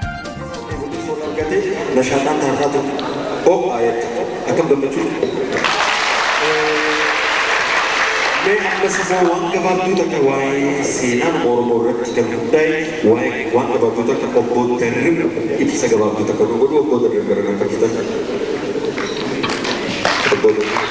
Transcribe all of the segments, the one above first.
Wanti foon argate nashaaxaan taarraa ture. Ho'aa jette. Akkam gammachuu. Mee ammas immoo waan gabaabduu takka waa'ee seenaan Oromoo irratti kan hundaa'e waa'ee waan gabaabduu takka obbo Darrib ibsa gabaabduu takka nu godhu obbo Darrib gara nan fakkitan. Obbo Darrib.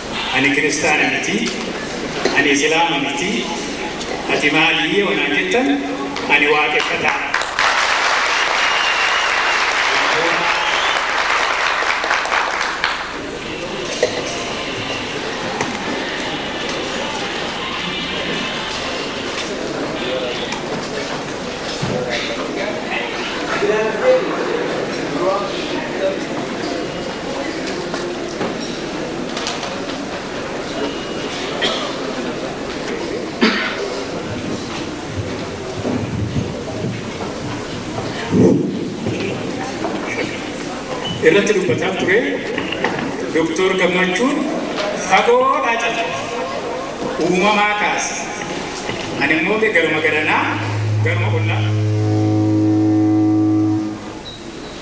Ani kiristaana miti, ani isilaama miti, ati maali yoo naan jettan ani waaqeffataadha. Galatooma. irratti dubbataa ture Dooktor Gammachuun fagoodhaa jala uumamaa kaase. Ani immoo garuma garanaa garuma ollaa.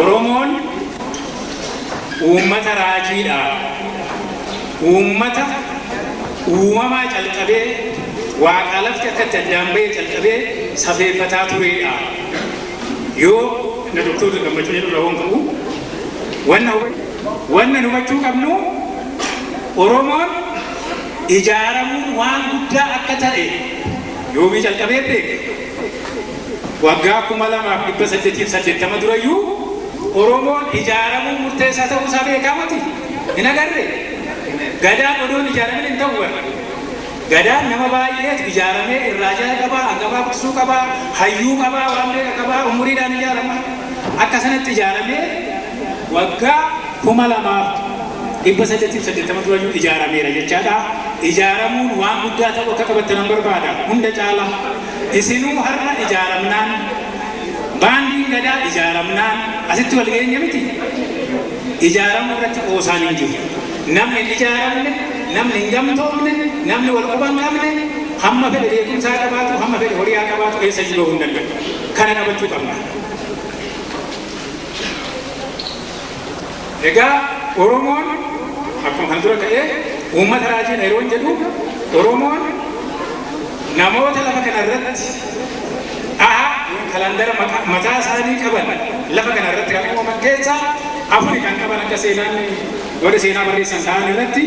Oromoon uummata raajiidha. Uummata uumamaa calqabee waaqaa lafti akka itti addaan ba'ee calqabee safeeffataa tureedha. Yoo na doktoota gammachuu jedhu rahoon qabu wanna wanna hubachuu qabnu Oromoon ijaaramuun waan guddaa akka ta'e yoomii calqabee beeka. Waggaa 2880 durayyuu Oromoon ijaaramuun murteessaa ta'uu isaa beekaa moti? Hin agarree? Gadaan odoo hin ijaaramin hin ta'u bar. Gadaan nama baay'eetu ijaaramee irraa jala qabaa, hangafaa guddisuu qabaa, hayyuu qabaa, waan beeka qabaa, umuriidhaan ijaarama. Akka sanatti ijaaramee Waggaa 2880 durayyuu ijaarameera jechaadha. Ijaaramuun waan guddaa ta'uu akka qabattanan barbaada. Hunda caala isinuu har'a ijaaramnaan, Baandiin Gadaa ijaaramnaan asitti wal geenye miti? Ijaaramuu irratti qoosaan hin jiru. Namni hin ijaaramne, namni hin gamtoomne, namni wal quba hin qabne hamma fedhe beekumsa haa qabaatu, hamma fedhe horii haa qabaatu eessayyuu gahuu hin danda'u. Kana qabachuu qabna. Egaa Oromoon akkuma kan dura ka'ee uummata raajiidha yeroon jedhu Oromoon namoota lafa kana irratti dhaha kalandara mataa isaanii qaban lafa kana irratti kan uumaman keessaa afuri kan qaban akka seenaan warri seenaa barreessan ta'an irratti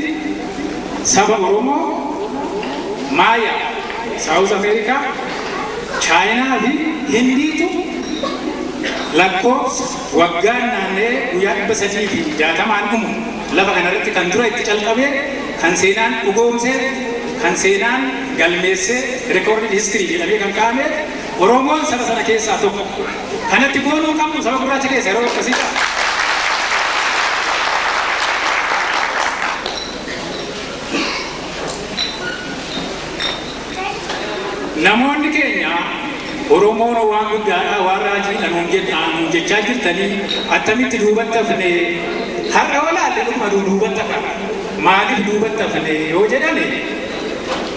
saba Oromoo Maaya Saawuz Ameerikaa Chaayinaa fi Hindiitu lakkoofsa waggaan naanna'ee guyyaa 360n dhumu lafa kana irratti kan dura itti calqabe, kan seenaan dhugoomse, kan seenaan galmeesse, recorded history jedhamee kan kaa'ame, Oromoon saba sana keessaa tokko. Kana itti boonuu hin qabnu saba gurraacha keessa yeroo akkasii ta'a. Namoonni keenya Oromoon waan guddaadha, waan raajiidha nuun jedhaa, nuun jechaa jirtanii attamitti duubatti hafne? Har'a yoo laalle dhuguma nuu duubatti hafan. Maaliif duubatti hafne yoo jedhame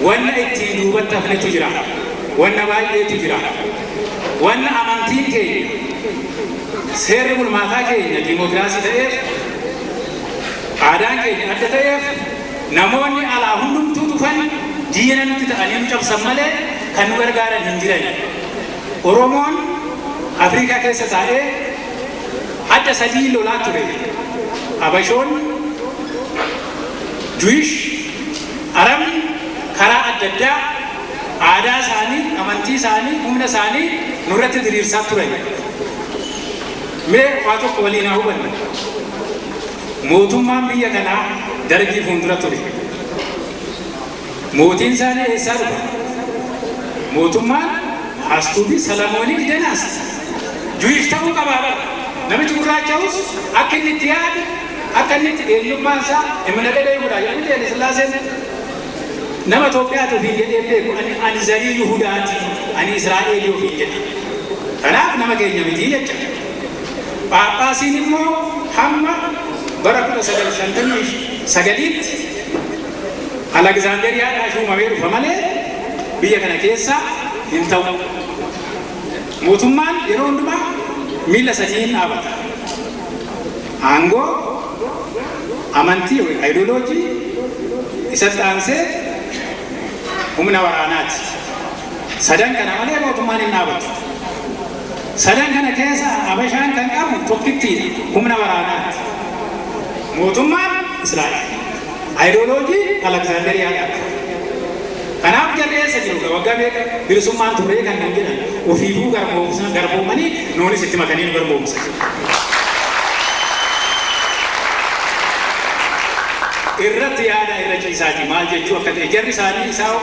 wanna ittiin duubatti hafnetu jira. Wanna baay'eetu jira. Wanna amantiin keenya, seerri bulmaataa keenya diimookiraasii ta'eef, aadaan keenya adda ta'eef, Namoonni alaa hundumtuu dhufan diina nutti ta'anii nu cabsan malee kan nu gargaaran hin jirani. Oromoon Afriikaa keessa taa'ee hadha sadii lolaa ture. Habashoonni, Juwish, Arabni karaa adda addaa aadaa isaanii, amantii isaanii, humna isaanii nurratti diriirsaa turani. Mee waa tokko waliin haa hubannu. Mootummaan biyya kanaa Dargii fuundura ture. Mootiin isaanii eessaa dhufa? Mootummaan Astuubii Salamooniik Denaast Juwish ta'uu qabaa bara. Namichi gurraacha'us akka inni itti yaadu, akka inni itti eenyummaan isaa imina dhedhee godhaa jedhu miti Haile Sillaaseen. Nama Itoophiyaati ofiin jedhee beeku ani ani zarii Yihudaati, ani Israa'eelii ofiin jedha. Kanaaf nama keenya miti jecha. Phaaphaasiin immoo hamma bara 1959tti Alagzaanderiyaadhaa shuumamee dhufa malee biyya kana keessa hin ta'u. Mootummaan yeroo hundumaa miila sadiin dhaabata. Aangoo, amantii yookiin ideoloojii, isatti aansee humna waraanaati. Sadan kana malee mootummaan hin dhaabatu. Sadan kana keessa Habashaan kan qabu tokkittiidha, humna waraanaati. Mootummaan Israa'el. Ayidooloojii Alaksaanderiyaadhaati. Kanaaf jarri eessa jiru egaa waggaa meeqa bilisummaan turree kan nuun jedhan ofiifuu garboomsa, garboomanii nuunis itti makanii nu garboomsan. Irratti yaadaa irra ciisaatii maal jechuu akka ta'e jarri isaanii isaa hoo?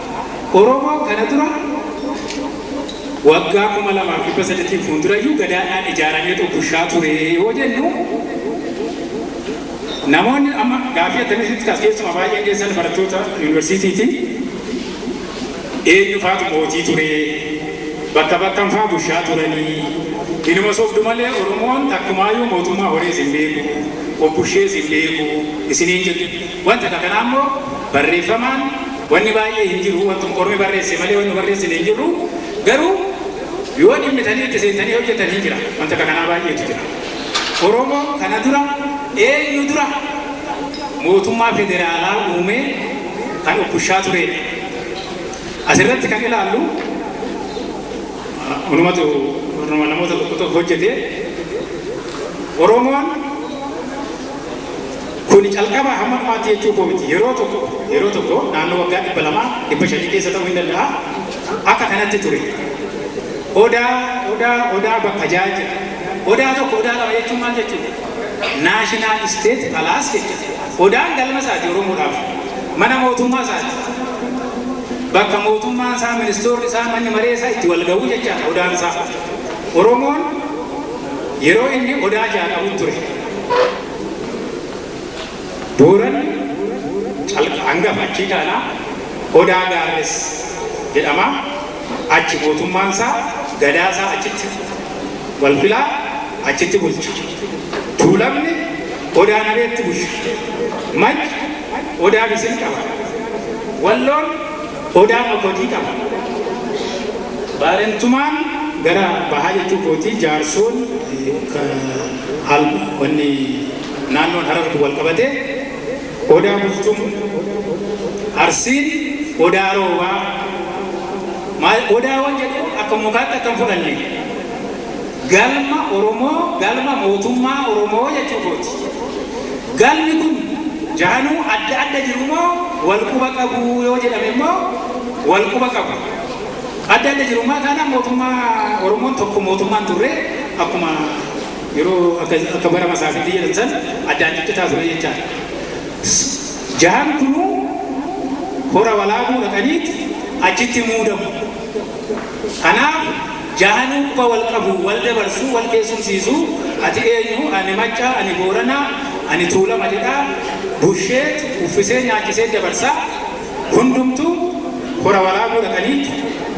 Oromoon kana dura waggaa 2300 fuuldurayyuu gadaadhaan ijaarameetu bushaa ture yoo jennu namoonni amma gaaffii akkamitti kaas keessumaa baay'een keessan barattoota yuunivarsiitiiti eenyu faatu mootii ture bakka bakkan faa bushaa turanii inuma sobdu malee Oromoon takkumaayyuu mootummaa horees hin beeku obbushees hin beeku isiniin jedhu. Wanti akka kanaa immoo barreeffamaan wanni baay'ee hin jiru, wantuma ormi barreesse malee wanni nu barreessine hin jirru, garuu yoo dhimmitanii itti seentanii hojjatan hin jira, wanti akka kanaa baay'eetu jira. Oromoon kana dura eenyu dura mootummaa federaalaa uumee kan of bushaa tureedha. As irratti kan ilaallu unumatu namoota tokko tokko hojjete Oromoon Kuni calqabaa hamma dhumaatti jechuu koo miti. Yeroo tokko, yeroo tokko, naannoo waggaa 200, 500 keessa ta'uu hin danda'a, akka kanatti ture. Odaa, Odaa, Odaa bakka ja'a jira. Odaa tokko, Odaa lama jechuun maal jechuudha? National State Palace jechuudha. Odaan galma isaati Oromoodhaaf. Mana mootummaa isaati. Bakka mootummaan isaa, ministoorri isaa, manni maree isaa itti wal ga'uu jechaadha Odaan isaa. Oromoon yeroo inni Odaa ja'a qabu ture. Booranni calqaba hangafa achii kaana Odaa Gaarres jedhama. Achi mootummaan isaa gadaa isaa achitti wal filaa achitti bulcha. Tuulamni Odaa Nabeetti bulcha. Majji Odaa Bisil qaba. Walloon. Odaa Makotii qaba. Baarentumaan gara bahaa jechuu kooti. Jaarsoon wanni naannoon Harar kun walqabate Odaa Bultum, Arsiin Odaa Roobaa. Odaawwan jedhu akka mukaatti akka hin fudhanne. Galma Oromoo galma mootummaa Oromoo jechuu kooti. Galmi kun jaranuu adda adda jiru moo wal quba qabuu yoo jedhame immoo wal quba qabu. Adda adda jiru maa taanaan mootummaa Oromoon tokko mootummaa hin turre akkuma yeroo akka akka bara masaafiitti jedhan san addaan ciccitaa ture jechaadha. Jahan kunuu hora walaabuu dhaqaniit achitti muudamu. Kanaaf jaanuu quba wal qabu, wal dabarsu, wal keessumsiisu, ati eenyu, ani Maccaa, ani Boorana, ani Tuulama jedhaa busheet, uffisee, nyaachisee dabarsa. Hundumtu Hora Walaabuu dhaqaniit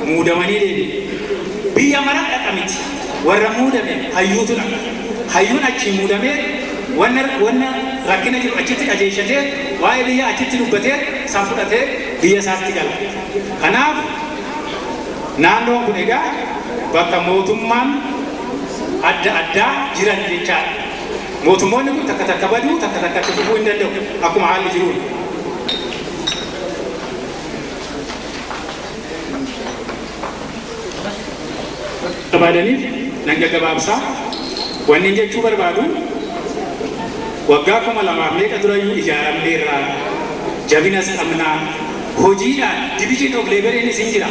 muudamanii deebi'u. Biyya mara dhaqa miti. Warra muudame hayyuutu dhaqa. Hayyuun achii muudamee wanna wanna rakkina jiru achitti dhageessatee waa'ee biyyaa achitti dubbatee san fudhatee biyya isaatti gala. Kanaaf. Naannoon kun egaa bakka mootummaan adda addaa jiran jechaadha. Mootummoonni kun takka takka baduu, takka takka itti fufuu hin danda'u akkuma haalli jiruun. barbaadaniif nan gaggabaabsa. Wannin jechuu barbaadu waggaa 2000 meeqa durayyuu ijaaramneerra, jabinas qabna, hojiidhaan division of labour'nis hin jira.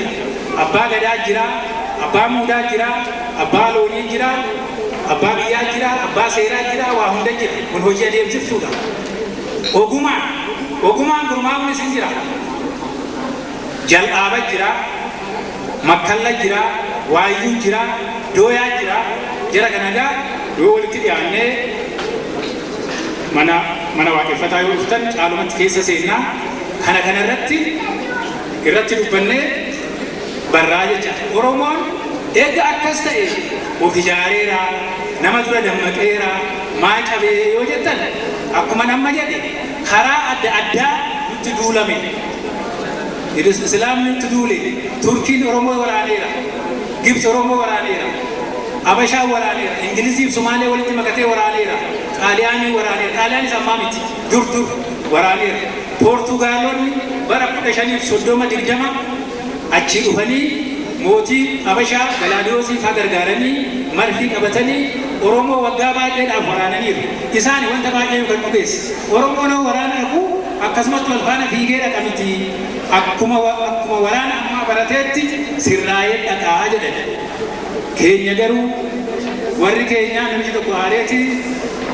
Abbaa Gadaa jira, Abbaa Muudaa jira, Abbaa Loonii jira, Abbaa Biyyaa jira, Abbaa Seeraa jira, waa hunda jira. Kun hojii adeemsiftuudha. Ogumaan, ogumaan gurmaa'uunis hin jira. Jal'aaba jira. Makkalla jira, Waayyuu jira, Dooyaa jira, jara kana egaa yoo walitti dhiyaannee mana mana waaqeffataa yoo dhuftan caalumatti keessa seennaa kana kana irratti irratti dubbannee barraa jecha Oromoon eega akkas ta'e of ijaareera nama dura dammaqeera maa cabee yoo jettan akkuma amma jedhe karaa adda addaa nutti duulame Idus Islaamni nutti duule, Turkiin Oromoo waraaneera, Gibtsi Oromoo waraaneera, Habashaan waraaneera, Ingiliziif Sumaalee walitti makatee waraaneera, Xaaliyaaniin waraaneera, Xaaliyaanis ammaa miti, dur dur waraaneera, Poortugaaloonni bara 1530, 20 achii dhufanii mootii Habashaa Galaadiyoosii faa gargaaranii marfii qabatanii Oromoo waggaa baay'eedhaaf waraananiiru. Isaani wanta baay'ee nu kan dhugeesse. Oromoon hoo waraana dhaquu? Akkasumatti wal faana fiigee dhaqa miti, akkuma akkuma waraana ammaa barateetti sirraayee dhaqa jedhani. Keenya garuu warri keenyaa namichi tokko aareeti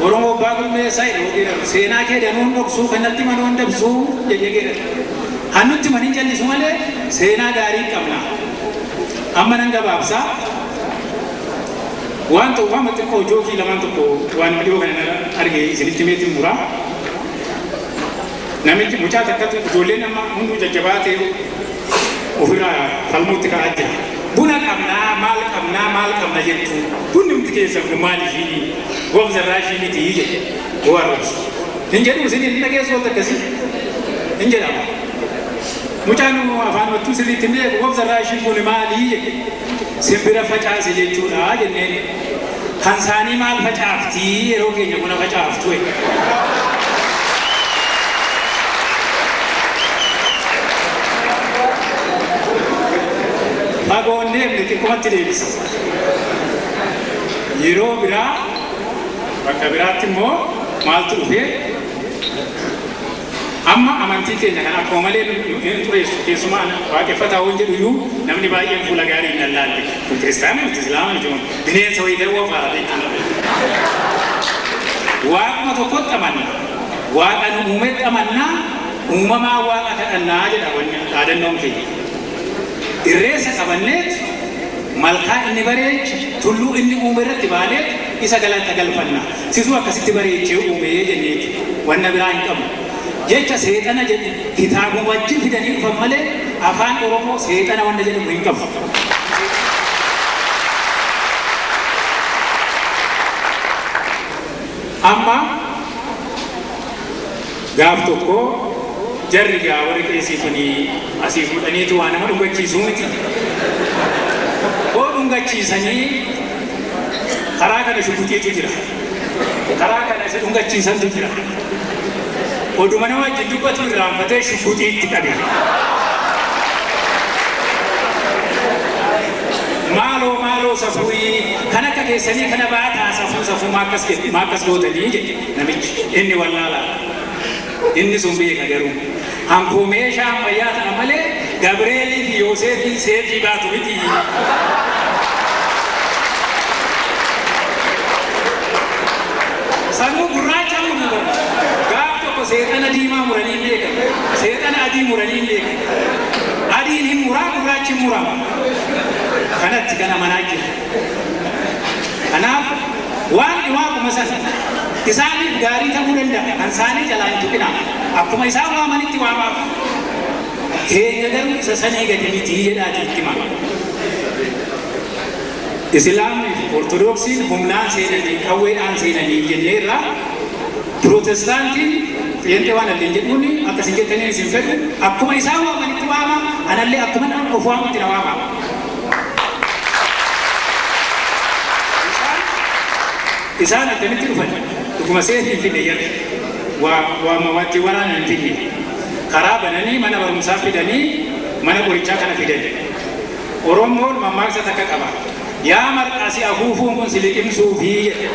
Oromoo abbaa gurmeessaa jedhe yoo geeraru seenaa kee danuu hin dhoksuu kan natti himan hoo hin dabsuu jedhee geerare. Kan nutti himan hin callisu malee seenaa gaarii hin qabna. Amma nan gabaabsa. Waan ta'uuf amma xiqqoo jookii lamaan tokko waan dhiyoo kana arge isinitti meetiin mura. Namichi mucaa takkatu ijoolleen amma hunduu jajjabaatee ofirraa falmuutti ka'aa jira. Buna qabnaa maal qabnaa maal qabna jettu bunni hundi keessan kun maal ishii gobza irraa ishii miti jedhe yoo arrabsu. Hin jedhu isin hin dhageessu wanta akkasii hin jedhama. Mucaan afaan mattuu sirriitti hin beeku gobza irraa ishii kun maali jedhe simbira facaase jechuudha jenneen. Kan saanii maal facaafti yeroo keenya buna facaaftu e. Fagoo hin deemne xiqqumatti deebisa. Yeroo biraa bakka biraatti immoo maaltu dhufee? Amma amantii keenya kana akkuma malee nu hin xureessu, keessumaa ana waaqeffataa yoon jedhu iyyuu namni baay'een fuula gaariin na ilaalti. Kun Kiristaana miti, Islaama miti kun bineensa wayii dawwa fa'a beektuu na beeku. Waaquma tokkotti amanna. Waaqa nu uumetti amanna, uumamaan Waaqa kadhanna jedha wanni dhaadannoon keenya. Irreessa qabanneet, malkaa inni bareeche, tulluu inni uume irratti baaneet, Isa galata galfanna. Situ akkasitti bareechee uume jenneeti. Wanna biraa hin qabnu. Jecha seexana jedhu kitaabuma wajjin fidanii dhufan malee Afaan Oromoo seexana wanna jedhamu hin qabu. Amma. Gaaf tokko jarri gaa warri qeesii kuni asii fuudhaniitu waa nama dhungachiisuu miti. Hoo dhungachiisanii karaa kana shugguxiitu jira. Karaa kana isa dhungachiisantu jira. Oduma nama wajjin dubbatu irraanfatee shugguxii itti qabe. Maaloo maaloo safuuyii kan akka keessanii kana baataa safuu safuu maakkas gootanii jedhe. Namichi inni wallaalaa dha. Inni sun beeka garuu. Anko meeshaa ammayyaa tana malee Gabri'eelii fi Yooseefiin seexii baatu miti. Sanuu gurraacha muruu bar. Gaaf tokko seexana diimaa muranii hin beekan. Seexana adii muranii hin beekan. Adiin hin muraa gurraachi hin murama. Kanatti kan amanaa jiru. Kanaaf Waaqni Waaquma sana. Isaaniif gaarii ta'uu danda'a, kan isaanii jalaa hin tuqinaa. Akkuma isaan waamanitti waamaaf. Keenya garuu isa samii gadi miti jedhaatii itti himaa. Islaamni fi Ortodoksiin humnaan seenanii, qawweedhaan seenanii jennee irraa Pirotestaantiin Pheenxee waan adda hin jedhuun akka isin jettanii isin fedhu akkuma isaan waamanitti waama, anallee akkuma of waamutti na waama. Isaan attamitti dhufan? Dhuguma seefii hin fidne jarri. Waa waa ma watti waraana hin fidne. Karaa bananii mana barumsaa fidanii mana qorichaa kana fidan. Oromoon mammaaksa takka qaba. Yaa marqaa si afuufuun kun si liqimsuufi jedha.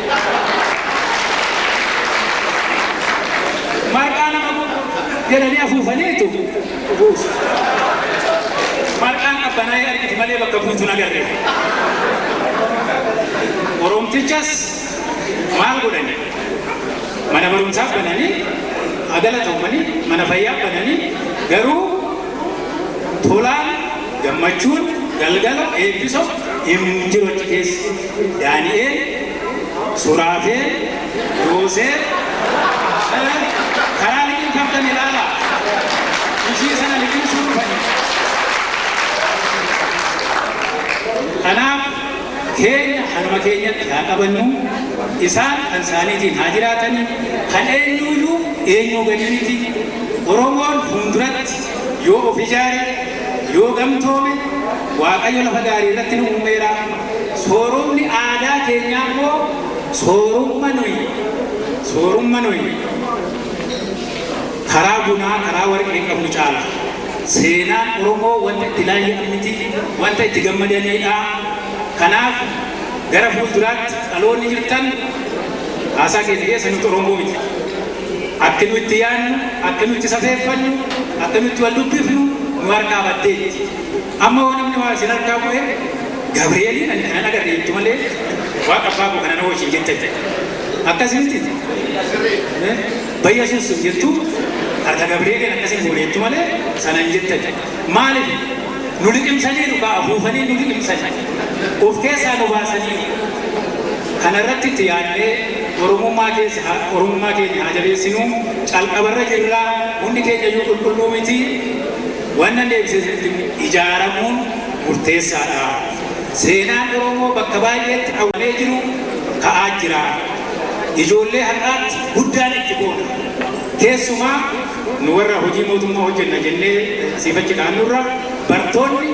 Marqaa nama jedhanii afuufaniitu. Dhuguus. Marqaan qabbanaa'ee argiti malee bakka buutu hin agarre. Oromtichas maal godhani? Mana barumsaa bananii, haa galatoomanii, mana fayyaa bananii, garuu tolaan, gammachuun, galgala, eebbiso hin jiru achi keessa. Daani'eel, Suraafeel, Yooseef, Kana karaa liqimfamtan ilaalaa! Ishii sana liqimsuu dhufani. Kanaaf keenya kanuma keenyatti haa qabannu, isaan kan isaaniitiin haa jiraatani, kan eenyuu iyyuu eenyuu gadi miti. Oromoon fuunduratti yoo of ijaare, yoo gamtoome, Waaqayyo lafa gaarii irratti nu uumeera. Sooromni aadaa keenyaa immoo Soorumma nuyi Soorumma nuyi karaa bunaa, karaa warqee qabnu caala. Seenaan Oromoo wanta itti laayya'an miti, wanta itti gammadaniidha. Kanaaf gara fuulduraatti dhaloonni jirtan haasaa keenya keessa nuti Oromoo miti. Akki nu itti yaannu, akki nu itti safeeffannu, akki nu itti wal dubbifnu nu harkaa baddeetti. Amma yoo namni waa isin harkaa bu'e Gabri'eeliin ani kanan agarre jettu malee Waaqa abbaa koo kana na wajjin jettan jedhe. Akkas miti? Ba'Yesuus sin jettu harka Gabri'eeliin akkas hin goone jettu malee sana hin jettan jedhe. Maaliif? Nu liqimsaniiru kaa afuufanii nu liqimsani. Of keessaa nu baasaniiru. Kana irratti itti yaadnee Oromummaa keessa haa Oromummaa keenya haa jabeessinu. Calqaba irra jirra. Hundi keenya iyyuu qulqulluu miti. Wanna deebisetti ijaaramuun murteessaadha. Seenaan Oromoo bakka baay'eetti awwalee jiru ka'aa jira. Ijoollee har'aatti guddaan itti boona. Keessumaa nu warra hojii mootummaa hojjenna jennee asiif achi kaanurra bartoonni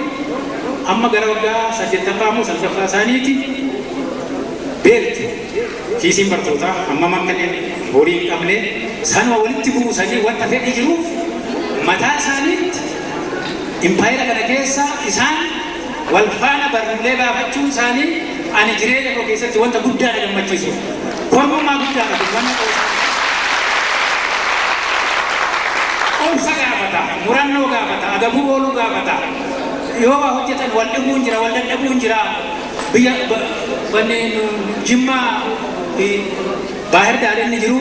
amma gara waggaa 8ffaa moo 9ffaa isaaniiti beektu. Kiisiin bartootaa hammam akka inni horii hin qabne sanuma walitti buusanii wanta fedhii jiruuf mataa isaaniitti impaayera kana keessa isaan wal faana barruulee baafachuun isaanii ani jireenya koo keessatti wanta guddaa na gammachiisudha. Kormummaa guddaadha kun wanna qoosaa. Obsa gaafata, murannoo gaafata, agabuu ooluu gaafata. Yoo waa hojjetan wal dhibuun jira, wal dadhabuun jira. Biyya wanni Jimmaa fi Baahir Daar inni jiru,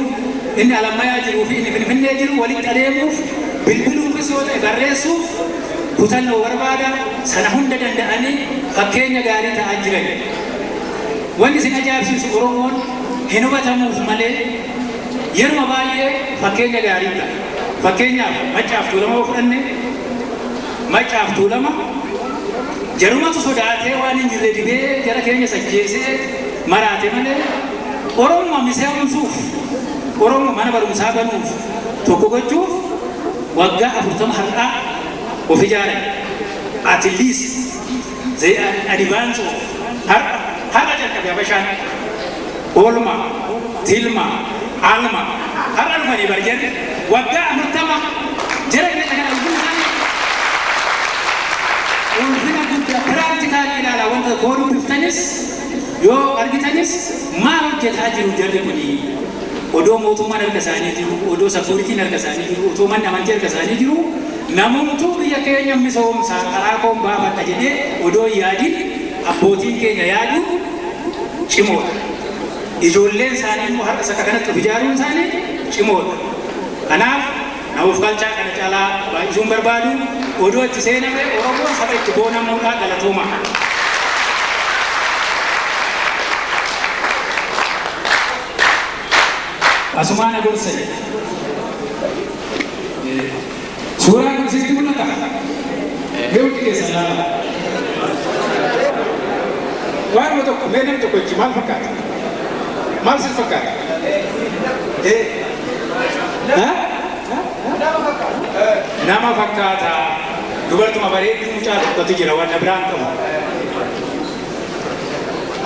inni Alammayaa jiruu fi inni Finfinnee jiru walitti adeemuuf, bilbiluufis yoo ta'e barreessuuf kutannoo barbaada. Sana hunda danda'anii fakkeenya gaarii ta'aa jiran. Wanni isin ajaa'ibsiisu Oromoon hin hubatamuuf malee yeruma baay'ee fakkeenya gaarii ta'a. Fakkeenyaaf Maccaa fi Tuulamaa yoo fudhanne, Maccaaf Tuulama jarumatu sodaatee waan hin jirre dibee jara keenyas ajjeesee maraate malee Oromuma miseomsuuf Oromo mana barumsaa banuuf tokko gochuuf waggaa 40 har'aa of ijaaran at least. they are in advance of har'a har'a jalqabe habashaan oolmaa tilmaa almaa har'a dhufanii bar jarri waggaa afurtama jara keenya kana ulfina isaanii ulfina guddaa piraaktikaalii ilaalaa wanta koo dubbiftanis yoo argitanis maal hojjetaa jiru jarri kuni odoo mootummaan harka isaanii jiru odoo safuuritiin harka isaanii jiru otoo manni amantii harka isaanii jiru Namumtuu biyya keenyan misoomsa, karaa koon baafadha jedhee odoo hin yaadin abbootiin keenya yaaduun cimoodha. Ijoolleen isaanii immoo har'a isa kanatti of ijaaruun isaanii cimoodha. Kanaaf na ofkalchaa kana caalaa baay'isuu hin barbaadu. Odoo itti seename Oromoon saba itti boonamuudha. Galatoomaa. Asumaa na gorsa jedha. Suuraan kun sitti mul'ata? Mee hundi keessan ilaalaa. Waanuma tokko mee namni tokko jechi maal fakkaata? Maal sitti fakkaata? Eh? Ha? Nama fakkaata. Dubartuma bareedduu mucaa tokkotu jira wanna biraan qabu.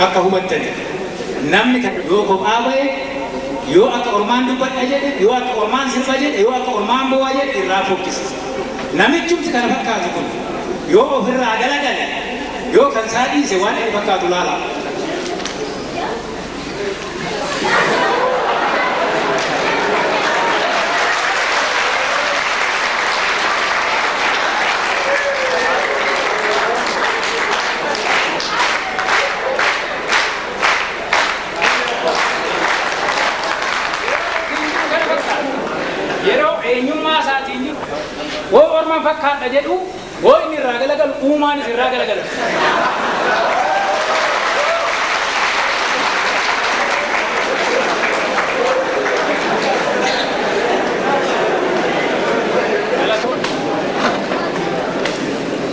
Akka hubattaniif. Namni takka yoo kophaa bahe, yoo akka ormaan dubbadha jedhe, yoo akka ormaan sirba jedhe, yoo akka ormaan boo'a jedhe irraa fokkisa. Namichumti kana fakkaatu kun yoo of irraa galagale, yoo kan isaa dhiise waan inni fakkaatu laalaa. yeroo eenyummaa isaatiin jiru hoo orman fakkaadha jedhu hoo inni irraa galagalu uumaanis irraa galagala.